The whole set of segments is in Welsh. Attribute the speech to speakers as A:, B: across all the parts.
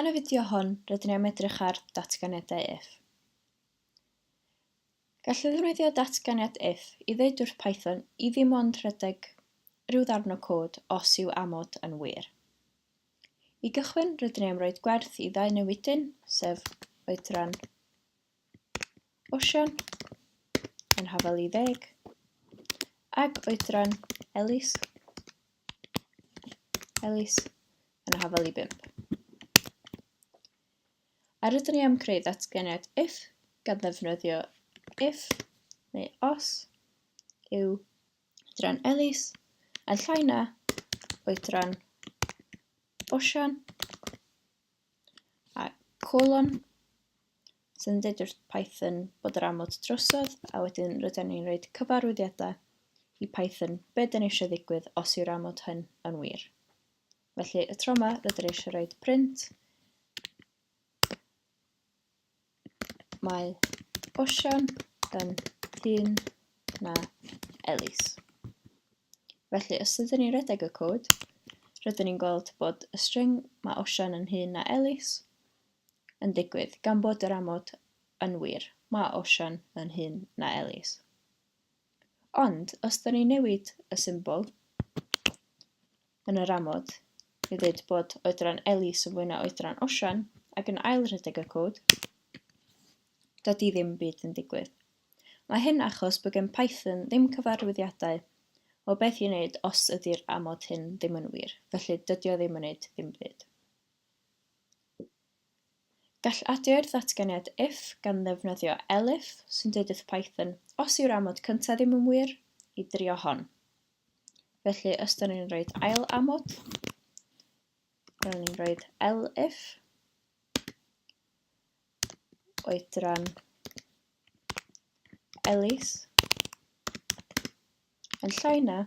A: Yn y fideo hwn, rydyn ni am edrych ar datganiadau if. Gallwn ddefnyddio datganiad if i ddeud wrth Python i ddim ond rhedeg rhyw ddarn o cod os yw amod yn wir. I gychwyn, rydyn ni am roed gwerth i ddau newidyn, sef oedran Osian yn Hafel i Ddeg ac Oedran Elis Elis yn Hafel i Bump. A rydyn ni am creu ddatganiad if gan ddefnyddio if neu os yw oedran Elis yn llai na oedran Osian a colon sy'n dweud wrth Python bod yr amod drosodd, a wedyn rydyn ni'n rhoi cyfarwyddiadau i Python be dyn ni eisiau ddigwydd os yw'r amod hyn yn wir. Felly y tro yma rydyn ni eisiau rhoi print Mae Osian yn hŷn na Elis. Felly, os ydyn ni'n redeg y cod, rydyn ni'n gweld bod y string mae Osian yn hŷn na Elis yn digwydd, gan bod yr amod yn wir, mae Osian yn hŷn na Elis. Ond, os ydyn ni'n newid y symbol, Yn yr amod, i ddweud bod oedran Ellis yn fwy na oedran Osian, ac yn ail rhedeg y cod, dydy ddim byd yn digwydd. Mae hyn achos bod gen Python ddim cyfarwyddiadau o beth i wneud os ydy'r amod hyn ddim yn wir, felly dydy o ddim yn wneud ddim byd. Gall adio i'r ddatganiad if gan ddefnyddio elif, sy'n dweud wrth Python, os yw'r amod cyntaf ddim yn wir, i drio hon. felly os da ni'n rhoi ail amod rydyn ni'n rhoi elif oedran Elis yn llai na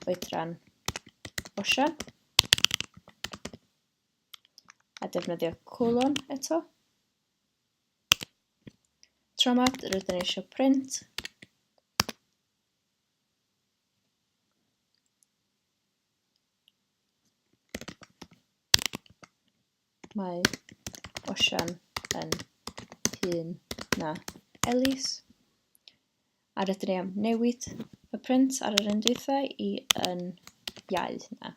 A: oedran Osian a defnyddio cwlon eto. Tro yma rydyn ni eisiau print Mae Osian yn hŷn na Elis. A rydyn ni am newid y print ar yr un dwythau i yn iau na.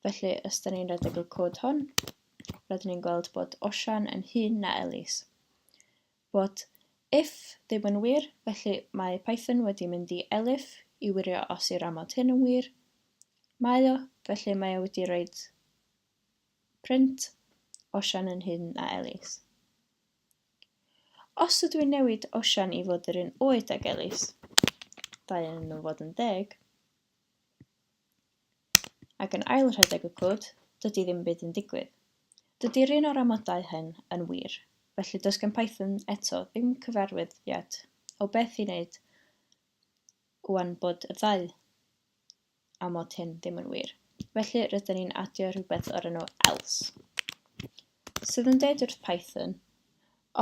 A: Felly, os da ni'n redeg y cod hwn, rydyn ni'n gweld bod Osian yn hŷn na Elis. What if ddim yn wir, felly mae Python wedi mynd i elif i wirio os yw'r amod hyn yn wir. Mae o, felly mae o wedi roed print Osian yn hŷn na Elis. Os ydw i'n newid Osian i fod yr un oed ag Elis, dau yn nhw fod yn deg, ac yn ail rhedeg y cwd, dydy ddim byd yn digwydd. Dydy'r un o'r amodau hyn yn wir, felly does gen Python eto ddim cyfarwyddiad o beth i wneud ŵan bod y ddau amod hyn ddim yn wir, felly rydyn ni'n adio rhywbeth o'r enw else, sydd yn deud wrth Python,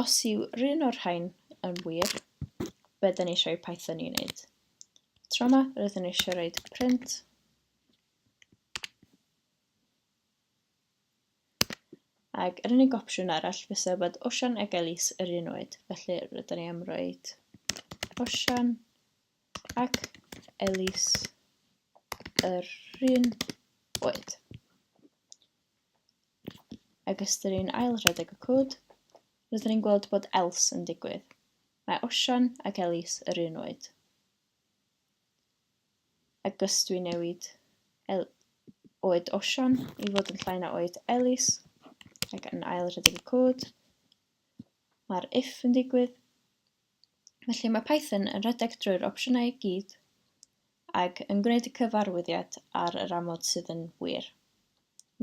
A: os yw rhywun o'r rhain yn wir, be da ni eisiau i Python i wneud? Tro yma, rydyn ni eisiau rhaid print. Ac yr unig opsiwn arall fysa bod Osian ac Elis yr un oed, felly rydyn ni am roed Osian ac Elis yr un oed. Ac ystyr ni'n ail rhedeg y cwd, rydyn ni'n gweld bod else yn digwydd. Mae Osian ac Elis yr un oed. A gysdw i newid el oed Osian i fod yn llai na oed Elis ac yn ail rhedeg y cod. Mae'r if yn digwydd. Felly mae Python yn rhedeg drwy'r opsiynau i gyd ac yn gwneud y cyfarwyddiad ar yr amod sydd yn wir,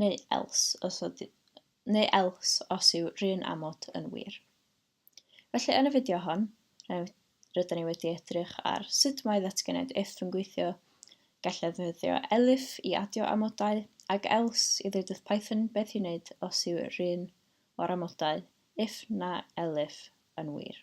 A: neu else os, oedd, neu else os yw'r un amod yn wir. Felly, yn y fideo hon, rydyn ni wedi edrych ar sut mae ddatganiad if yn gweithio, gallai ddefnyddio elif i adio amodau, ac else i ddweud wrth Python beth i wneud os yw'r un o'r amodau if na elif yn wir.